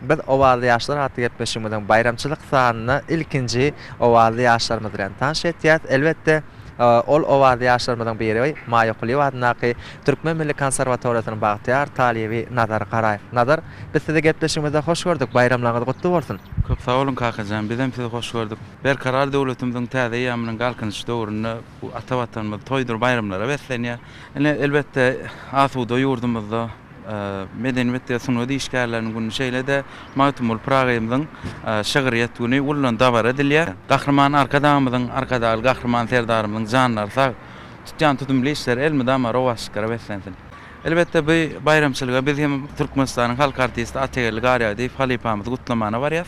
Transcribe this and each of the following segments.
Biz Owazly ýaşlar atly gepleşigimiziň baýramçylyk sanynda ilkinji Owazly ýaşlarymyz bilen tanyş etýäs. Elbetde, ol Owazly ýaşlarymyzyň biri Maýa Kulyýewa adyndaky Türkmen milli konserwatoriýasynyň bagtyýar talyby Nazar Garaýew. Nazar, biz sizi gepleşigimizde hoş gördük, baýramlaryňyz gutly bolsun! Köp sag boluň Kakajan, bizem sizi hoş gördük. Berkarar döwletimiziň täze eýýamynyň Galkynyş döwründe bu ata Watanymyz toýdur baýramlara beslenýär. Ine, elbetde, asuda ýurdumyzda, Medeniwet we sungat işgärleriniň güni, şeýle-de Magtymguly Pyragyýymyzyň şygryýet güni uludan dabara edilýär. Gahryman Arkadagymyzyň, Arkadagly Gahryman Serdarymyzyň janlary sag, tutýan tutumly işleri elmydama rowaçlyklara beslensin! Elbetde, bu baýramçylyga biz hem Türkmenistanyň halk artisti Atageldi Garýagdyýew halypamyzy gutlamana barýas.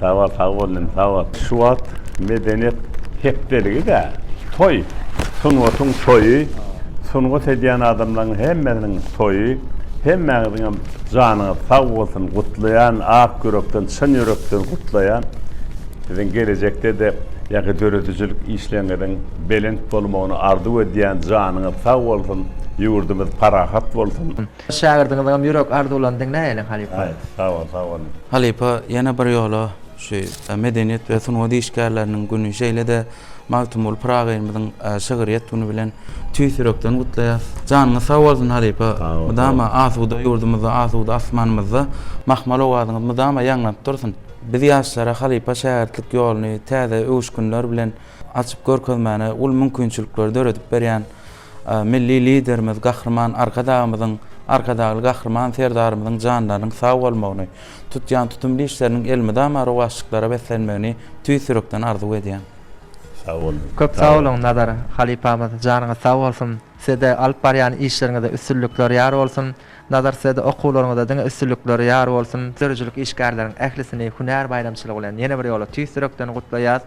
Sagbol sagbol inim sagbol. Şu wagt medeniýet hepdeligidä toý sungatyň toýy sungat edýän adamlaryň hemmesiniň toýy hemmäňiziňem janyňyz sag bolsun gutlaýan ak ýürekden çyn ýürekden gutlaýan siziň gelejekdede ýaňky döredijilik işleriňiziň belent bolmagyny arzuw edýän janyňyz sag bolsun ýurdumyz parahat bolsun. Şägirdiňiziňem ýürek arzuwlaryny diňläýeliň halypa. Aý, sag bol, sag bol. Halypa ýene bir ýola şu Medeniýet we sungat işgärleriniň güni şeýle-de Magtymguly Pyragyýmyzyň şygryýet güni bilen tüýs ýürekden gutlaýas. Janyňyz sag bolsun halypa. Mydama asuda ýurdumyzda, asuda asmanymyzda mahmal owazyňyz mydama ýaňlanyp dursun. Biz ýaşlara halypa şägirtlik ýoluny täze öwüşginler bilen açyp görkezmäne uly mümkinçilikleri döredip berýän Milli Liderimiz Gahryman Arkadagymyzyň, Arkadagly Gahryman Serdarymyzyň janlarynyň sag bolmagyny, tutýan tutumly işleriniň elmydama rowaçlyklara beslenmegini tüýs ýürekden arzuw edýän. Sag boluň. Köp sag boluň Nazar halypamyz janyňyz sag bolsun sizede alyp barýan işleriňizde üstünlikler ýar bolsun Nazar sizede okuwlaryňyzda diňe üstünlikler ýar bolsun. Döredijilik işgärleriň ählisini hünär baýramçylygy bilen ýene bir ýola tüýs ýürekden gutlaýas.